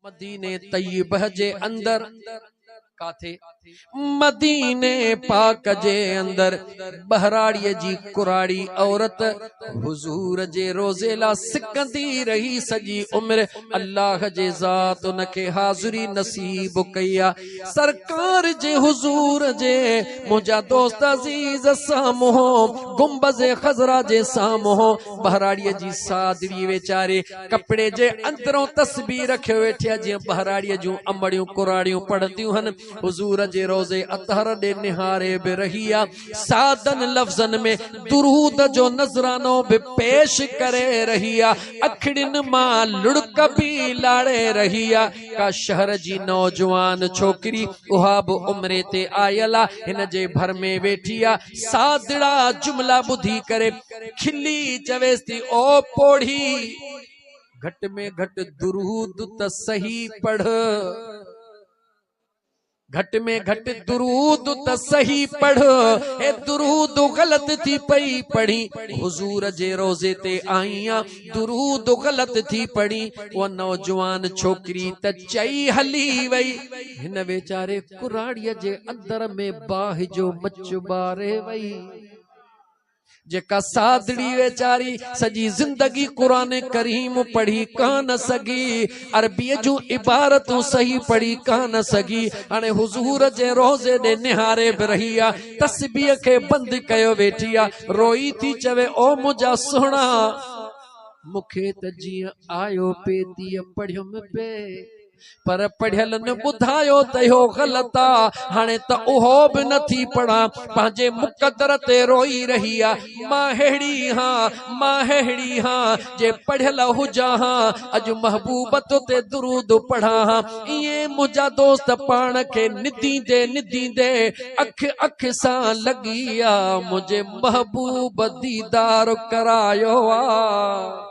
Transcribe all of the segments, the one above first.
مديني طيبه جي اندر ڪاٿي؟ مديني پاڪ جي اندر ٻهراڙيء جي ڪراڙي عورت حضور جي روضي لاء سڪندي رهي سڄي عمر الله جي ذات ان کي حاضري نصيب ڪئي آ سرڪار جي حضور جي منهنجا دوست عزيز سامهون گنبذ خضرا جي سامهون ٻهراڙيء جي سادڙي ويچاري ڪپڙي جي اندرون تسبيح رکيو ويٺي آهي جيئن ٻهراڙيء جون امڙيون ڪراڙيون پڙهنديون هن. حضور جي روضي اطهر ڏي نهاري به رهي آهي، سادن لفظن ۾ درود جو نذرانو به پيش ڪري رهي آهي، اکڙين مان لڙڪ به لاڙي رهي آهي. ڪا شهر جي نوجوان ڇوڪري اها به عمري تي آيل آهي، هن جي ڀر ۾ ويٺي آهي. سادڙا جملا ٻڌي ڪري کلي چويس ٿي او پوڙهي گهٽ ۾ گهٽ درود ته صحيح پڙهه گهٽ ۾ گهٽ درود ته صحيح پڙهه اي درود غلط ٿي پئي پڙهي حضور جي روزي تي آئيان درود غلط ٿي پڙهي او نوجوان ڇوڪري ته چئي هلي وئي هن ويچاري ڪراڙيء جي اندر ۾ باهه جو مچ ٻاري وئي. جيڪا سادڙي ويچاري سڄي زندگي قرآن ڪريم پڙهي ڪانه سگهي، عربيء جون عبارتون صحيح پڙهي ڪانه سگهي، هاڻي حضور جي روضي ڏي نهاري به رهي آ، تسبيح کي بند ڪيو ويٺي آ، روئي ٿي چوي، او منهنجا سهڻا! مون کي ته جيئن آيو پئي تيئن پڙهيم پئي. پر پڙهيلن ٻڌايو ته اهو غلط آ، هاڻي ته اهو به نه ٿي پڙهان، پنهنجي مقدر تي روئي رهي آ، مان ههڙي ها، مان ههڙي ها، جي پڙهيل هجان ها، اڄ محبوب تو تي درود پڙهان ها، ائين منهنجا دوست پاڻ کي نديندي نديندي اک اک سان لڳي آ، منهنجي محبوب ديدار ڪرايو آ.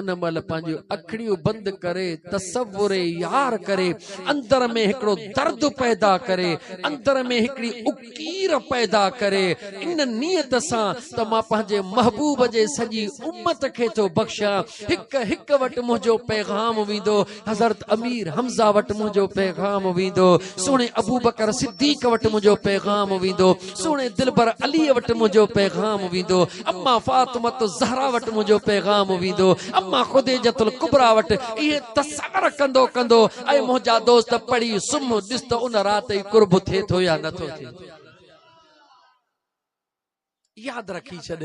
ان مهل پنهنجون اکڙيون بند ڪري تصور يار ڪري اندر ۾ هڪڙو درد پيدا ڪري اندر ۾ هڪڙي اڪير پيدا ڪري ان نيت سان ته مان پنهنجي محبوب جي سڄي امت کي ٿو بخشان هڪ هڪ وٽ منهنجو پيغام ويندو حضرت امير حمزه وٽ منهنجو پيغام ويندو سهڻي ابوبڪر صديق وٽ منهنجو پيغام ويندو سهڻي دلبر علي وٽ منهنجو پيغام ويندو اما فاطمه الزهرا وٽ منهنجو پيغام ويندو اما خديجه الڪبرا وٽ اهي تصور ڪندو ڪندو اي منهنجا دوست پڙهي سم ڏس ته ان رات ئي قرب ٿئي ٿو يا نه ٿو ٿئي ياد رکي ڇڏ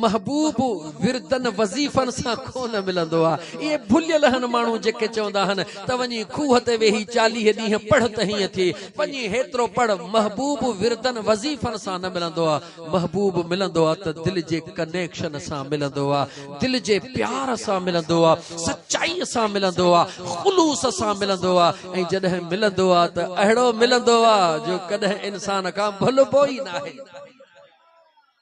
محبوب وردن وظيفن سان ڪونه ملندو آ اهي ڀليل هن ماڻهو جيڪي چوندا هن ته وڃي کوهه تي ويهي چاليهه ڏينهن پڙهه ته هيئن ٿئي وڃي هيترو پڙهه محبوب وردن وظيفن سان نه ملندو آ محبوب ملندو آ ته دل جي ڪنيڪشن سان ملندو آ دل جي پيار سان ملندو آ سچائي سان ملندو آ خلوص سان ملندو آ ۽ جڏهن ملندو آ ته اهڙو ملندو آ جو ڪڏهن انسان کان ڀلبو ئي ناهي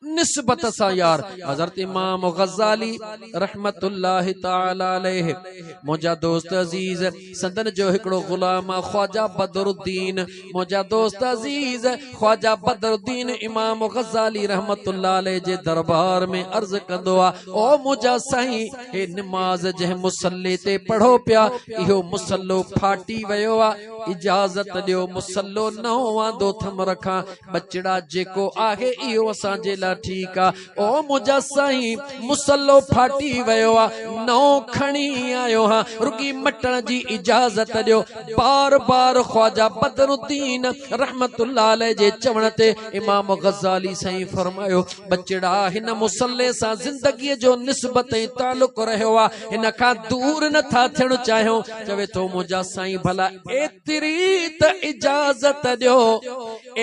نسبت سان يار حضرت امام غزالی رحمت الله تعالي عليه منهنجا دوست عزيز سندن جو هڪڙو غلام خواجه بدر الدين منهنجا دوست عزيز خواجه بدر الدين امام غزالی رحمت الله عليه جي دربار ۾ عرض ڪندو آ او منهنجا سائين هي نماز جنهن مصلي تي پڙهو پيا اهو مصلو ڦاٽي ويو آ اجازت ڏيو مصلو نئون واندو ٿم رکان ٻچڙا جيڪو آهي اهو اسان جي لاء ٺيڪ آ او منهنجا سائين مصلو ڦاٽي ويو آ نئون کڻي آيو هان رڳي مٽڻ جي اجازت ڏيو بار بار خواجه بدر الدين رحمت الله عليه جي چوڻ تي امام غزالي سائين فرمايو ٻچڙا هن مصلي سان زندگي جو نسبت ۽ تعلق رهيو آ هن کان دور نه ٿا ٿيڻ چاهيون چوي ٿو منهنجا سائين ڀلا ايتري ته اجازت ڏيو،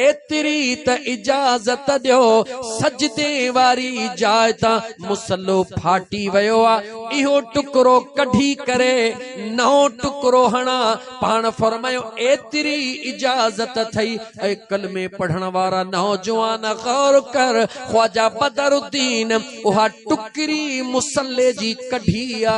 ايتري ته اجازت ڏيو، سجدي واري جاء تان مصلو ڦاٽي ويو آ، اهو ٽڪرو ڪڍي ڪري نئون ٽڪرو هڻان، پاڻ فرمايو ايتري اجازت اٿئي، اي ڪلمي پڙهڻ وارا نوجوان غور ڪر، خواجه بدرالدين اها ٽڪري مصلي جي ڪڍي آ.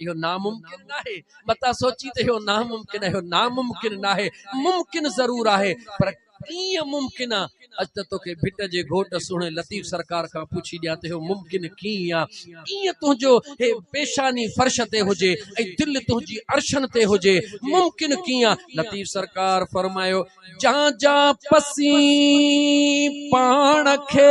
اهو ناممڪن ناهي، متان سوچي ته اهو ناممڪن اهو ناممڪن ناهي، ممڪن ضرور آهي پر ڪيئن ممڪن آ؟ اچ ته توکي ڀٽ جي گهوٽ سهڻي لطيف سرڪار کان پڇي ڏيان ته اهو ممڪن ڪيئن آ؟ ڪيئن تنهنجو هي پيشاني فرش تي هجي ۽ دل تنهنجي عرشن تي هجي؟ ممڪن ڪيئن آ؟ لطيف سرڪار فرمايو، جان جان پسين پاڻ کي.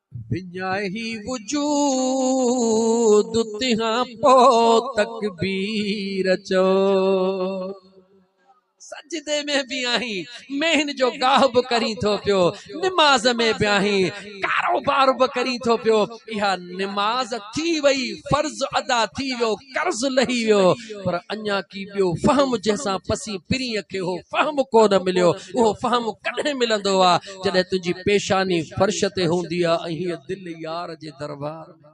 وڃائي وجود تنهان پوء تڪبير چئو. سجدي ۾ به آهين، مهن جو گاهه به ڪرين ٿو پيو، نماز ۾ به آهين، ڪاروبار به ڪرين ٿو پيو، اها نماز ٿي وئي، فرض ادا ٿي ويو، قرض لهي ويو، پر اڃا ڪي ٻيو فهم جنهن سان پسين پرينء کي اهو فهم ڪونه مليو، اهو فهم ڪڏهن ملندو ها؟ جڏهن تنهنجي پيشاني فرش تي هوندي آ ۽ هيء دل يار جي دربار ۾.